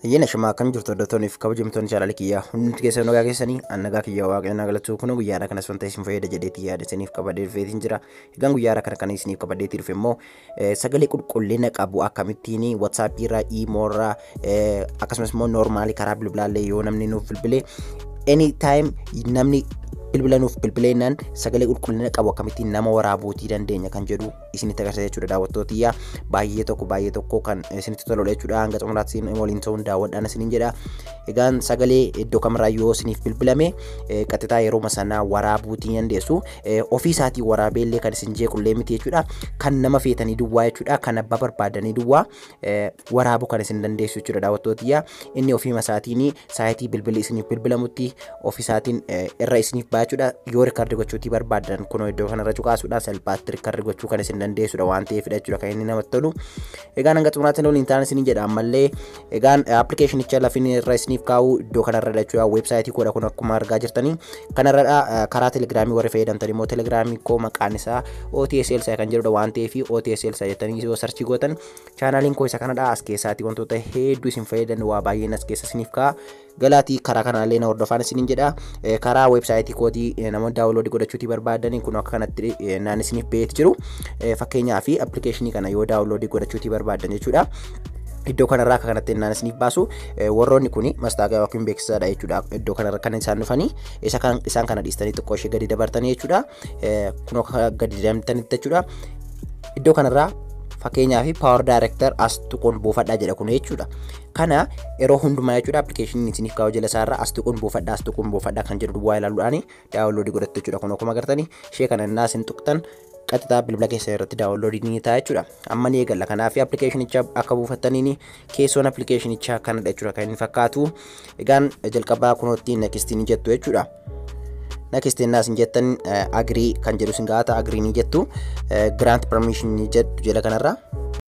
Hayyana shamaa akkam jirtu hordoftoonni fi kabajamtoonni chaanaalii kiyyaa hundumti keessan nagaa keessanii an nagaa kiyyaa waaqayyoon haa galatu kun guyyaadha kanas wanta isin fayyada jedheetti yaada isiniif qabadee dhufeetiin jira egaan guyyaadha kana kan isiniif qabadeetti dhufe immoo sagalee qulqullina qabu akkamittiin watsaappii irraa iimoo irraa akkasumas immoo noormaalii karaa bilbilaallee yoo namni nuuf bilbilee any time namni bilbila nuuf bilbileennan sagalee qulqullina qabu akkamittiin nama waraabuutii dandeenya kan jedhu isinitti agarsiisa jechuudha daawwattoota tiyya baay'ee tokko baay'ee tokko kan isinitti toludha jechuudha hanga xumuraatti isin waliin ta'uun daawwadhaan isiniin jedha egaan sagalee iddoo kamirraa yoo isiniif bilbilame qaxxitaa yeroo sanaa waraabuutii ni dandeessu ofii isaatii waraabeellee kan isin jeequllee miti jechuudha kan nama feetanii duwwaa jechuudha kan abbaa barbaadanii duwwaa waraabu kan isin dandeessu jechuudha daawwattootiyyaa inni ofiima isaatiin saayitii bilbilli isiniif bilbilamutti ofisaatiin irra isiniif baachuudha yoo rikardi gochuutii barbaadan kunoo iddoo kanarra cuqaasuudhaan salphaatti rikardi gochuu kan isin dandeessudha waan ta'eefidha jechuudha kan inni namatti tolu egaan hanga xumuraatti nuun hin taane isin jedha ammallee egaan appilikeeshinicha lafin irra isiniif kaa'u iddoo kanarra jechuudha weebsaayitii koodha kun akkuma argaa jirtanii Kanarra karaa telegiraamii warri fayyadamtan immoo telegiraamii koo maqaan isaa OTS Elsa kan jedhudha waan ta'eef OTS Elsa jettanii yoo sarchii gootan chaanaaliin koo isa kanadha as keessaatii wantoota hedduu isin fayyadan waa baay'een as keessa isiniif ka'a. Galaatii karaa kanaallee na hordofaan isiniin jedha. Karaa weebsaayitii kootii namoonni daawunloodii godhachuutii barbaadan kun akka kanatti naan isiniif beetti jiru. Fakkeenyaaf appilikeeshinii kana yoo daawunloodii godhachuutii barbaadan jechuudha. iddoo kanarraa akka kanatti innaan isiniif baasu warroonni kun mastaagaa yookiin beeksisaadha jechuudha iddoo kanarra kan isaan dhufanii isa kan isaan kana dhiistanii xiqqoo ishee gadi dabartanii jechuudha kunoo gadi deemtanitti jechuudha iddoo kanarraa fakkeenyaa fi power director as tuquun buufadhaa jedha kun jechuudha. Kana yeroo hundumaa jechuudha appilikeeshiniin isiniif kaa'u jala isaarra as tuquun buufadhaa as tuquun buufadhaa kan jedhu duwwaa ilaaluudhaan daawunloodii godhattu jechuudha kun akkuma agartanii ishee kana innaa isin tuqtan qaxxixaa bilbila keessan irratti daawunloodii ni ta'a jechuudha. Amma ni eegalla. Kanaaf appilikeeshinicha akka buufattaniin keessoon appilikeeshinichaa kanadha jechuudha kan inni fakkaatu. Egaan jalqabaa kunootti next ni jettu jechuudha. Next innaas hin jettan agree kan jedhu sin gaata agree ni jettu. Grant permission ni jettu jala kanarra.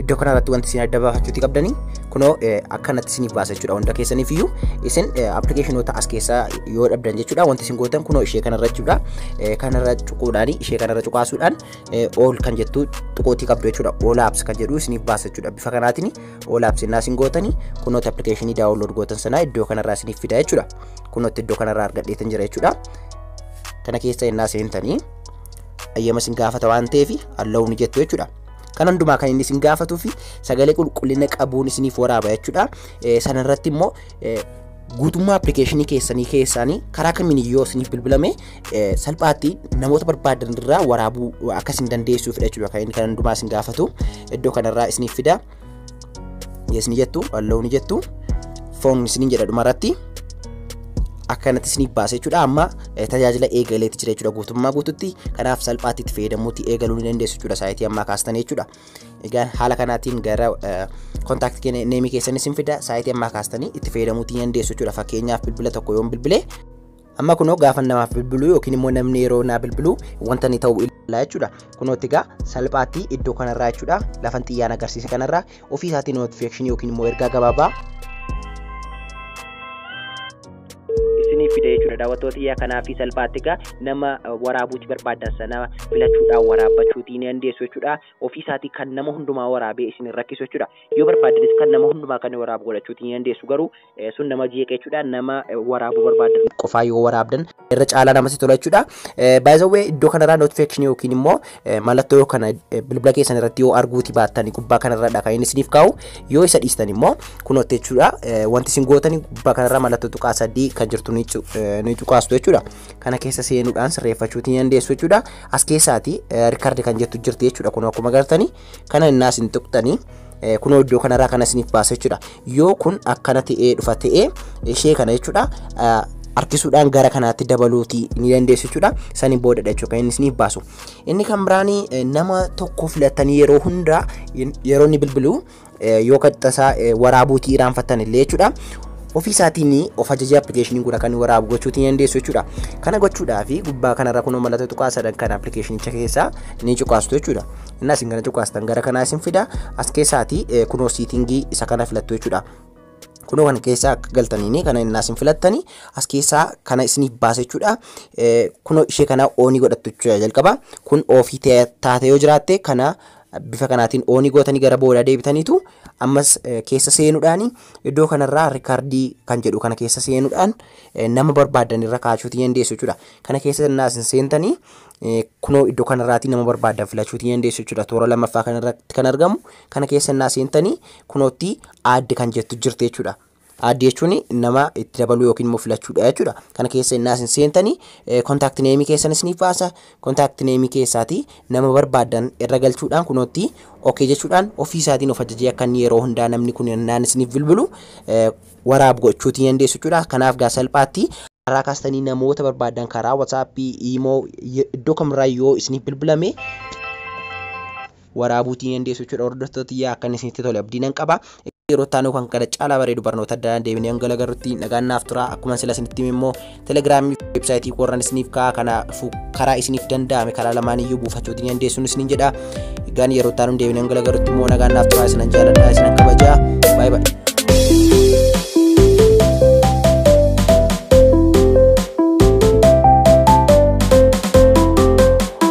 iddoo kana irratti wanti isin adda baafachuuti qabdanii kunoo akkanatti isiniif baasa jechuudha hunda keessaniif iyyuu isin appilikeeshinoota as keessaa yoo dhabdan jechuudha wanti isin gootan kunoo ishee kanarra jechuudha kanarra cuquudhaan ishee kanarra cuqaasuudhaan ool kan jettu tuqootii qabdu jechuudha oolaabs kan jedhu isiniif baasa jechuudha bifa kanaatiin oolaabs innaa isin gootanii kunoota appilikeeshinii daawunlood gootan sanaa iddoo kanarraa isiniif fida jechuudha kunootti iddoo kanarraa argadheetan jira jechuudha kana keessa innaa seentanii ayyama sin gaafata waan ta'eef allahu ni jettu jechuudha. Kan hundumaa kan inni sin gaafatuu fi sagalee qulqullina qabuun isiniif waraaba jechuudha. Sanarratti immoo guutummaa appilikeeshinii keessanii keessaanii karaa kamiin yoo isiniif bilbilame salphaatti namoota barbaadan irraa waraabuu akka isin dandeessuuf jechuudha kan inni kan hundumaa isin gaafatu iddoo kanarraa isiniif fida. yes ni jettu allow ni jettu foon isiniin jedha dhuma irratti akkanatti isiniif baasa jechuudha amma tajaajila eegaleetti jira jechuudha guutummaa guututti kanaaf salphaatti itti fayyadamuutti eegaluu ni dandeessu jechuudha saayitii ammaa kaastan jechuudha egaa haala kanaatiin gara kontaaktii neemii keessan isin fida saayitii ammaa kaastanii itti fayyadamuutti ni dandeessu jechuudha fakkeenyaaf bilbila tokko yoon bilbilee Amma kunoo gaafa namaaf bilbiluu yookiin immoo namni yeroo naa bilbiluu wanta inni ta'u ilaalaa jechuudha. Kunootti egaa salphaatti iddoo kanarraa jechuudha lafan xiyyaan agarsiise kanarraa ofii isaatii notification yookiin immoo ergaa gabaabaa isiniif fida jechuudha daawwattoota iyyaa kanaa fi salphaatti egaa nama waraabuuti barbaadan sana filachuudhaan waraabbachuutii ni dandeessu jechuudha ofii isaatii kan nama hundumaa waraabee isin rakkisu jechuudha yoo barbaadanis kan nama hundumaa kan waraabu godhachuutii ni dandeessu garuu sun nama jeeqa jechuudha nama waraabuu barbaaddan qofaa yoo waraabdan irra caalaa namatti tola jechuudha. Baay'isawwee iddoo kanarraa notification yookiin immoo mallattoo kana bilbila keessan irratti yoo arguuti baattan gubbaa kanarradha kan inni isiniif kaa'u yoo isa dhiistan immoo kunootti jechuudha wanti isin gootan gubbaa kanarraa mallattoo tuqaa sadii kan jirtu ni cuqaastu jechuudha. Kana keessa seenuudhaan sirreeffachuuti ni dandeessu jechuudha. As keessaati rikardi kan jettu jirti jechuudha kun akkuma gartanii Kana innaa isin tuqxanii kunoo iddoo kanarraa kana isiniif baasa jechuudha. Yoo kun akkana ta'ee dhufa ta'ee ishee kana jechuudha harkisuudhaan gara kanaatti dabaluuti ni dandeessu jechuudha. Sani boodadha jechuudha kan inni isiniif baasu. Inni kan biraanii nama tokko filattanii yeroo hundaa yeroo inni bilbilu yoo qaxxasaa waraabuutii irraanfattan illee jechuudha. Ofii isaatiin of ajajee appilikeeshiniin kun akka inni waraabu gochuutiin dandeessu jechuudha. Kana gochuudhaaf gubbaa kanarra kunoo mallattoo tuqaa sadan kan appilikeeshinicha keessaa ni cuqaastu jechuudha. Inni isin kana cuqaastan gara kanaa isin fida as keessaati kunoo siitingii isa kana filattu jechuudha. Kunoo kan keessaa akka galtaniini kana inni isin filattani as keessaa kana isiniif baasa jechuudha. Kunoo ishee kana oonii godhattu jechuudha jalqaba kun oofii taate yoo jiraatte kana bifa kanaatiin oonii gootanii gara boodaa deebitaniitu ammas keessa seenuudhaan iddoo kanarraa rikaardii kan jedhu kana keessa seenuudhaan nama barbaadan irra kaachuutii dandeessu jechuudha. Kana keessa innaa isin seentanii kunoo iddoo kanarraatii nama barbaadan filachuutii dandeessu jechuudha. Toora lammaffaa kanarratti kan argamu kana keessa innaa seentanii kunootti aadde kan jettu jirti jechuudha. Add jechuun nama itti dabaluu yookiin immoo filachuudha jechuudha. Kana keessa innaa isin seentanii kontaakti neemii keessan isiniif baasa. Kontaakti neemii keessaatii nama barbaaddan irra galchuudhaan kunootti ok jechuudhaan ofii isaatiin of ajajee akka inni yeroo hundaa namni kun innaan isiniif bilbilu eh, waraabu gochuutii ni dandeessu jechuudha. Kanaaf gaa salphaatti karaa kaastanii namoota barbaaddan karaa WhatsApp, Imo, iddoo kamirraa yoo isiniif bilbilame waraabuutii ni dandeessu jechuudha hordoftoota tiyyaa akka inni isinitti tole abdii nan qaba. yeroo itti aanuu kan kana caalaa bareedu barnoota adda addaa deebinee hanga lagarrutti nagaan naaf tura akkuma sila isinitti immoo telegiraamii fi weebsaayitii koorran isiniif ka'a kanaafu karaa isiniif danda'ame karaa lamaan iyyuu buufachuutiin dandeessuun isiniin jedha egaan yeroo itti aanuu deebinee hanga lagarrutti immoo nagaan naaf tura isinan jaaladha isinan kabajaa baay'ee baay'ee.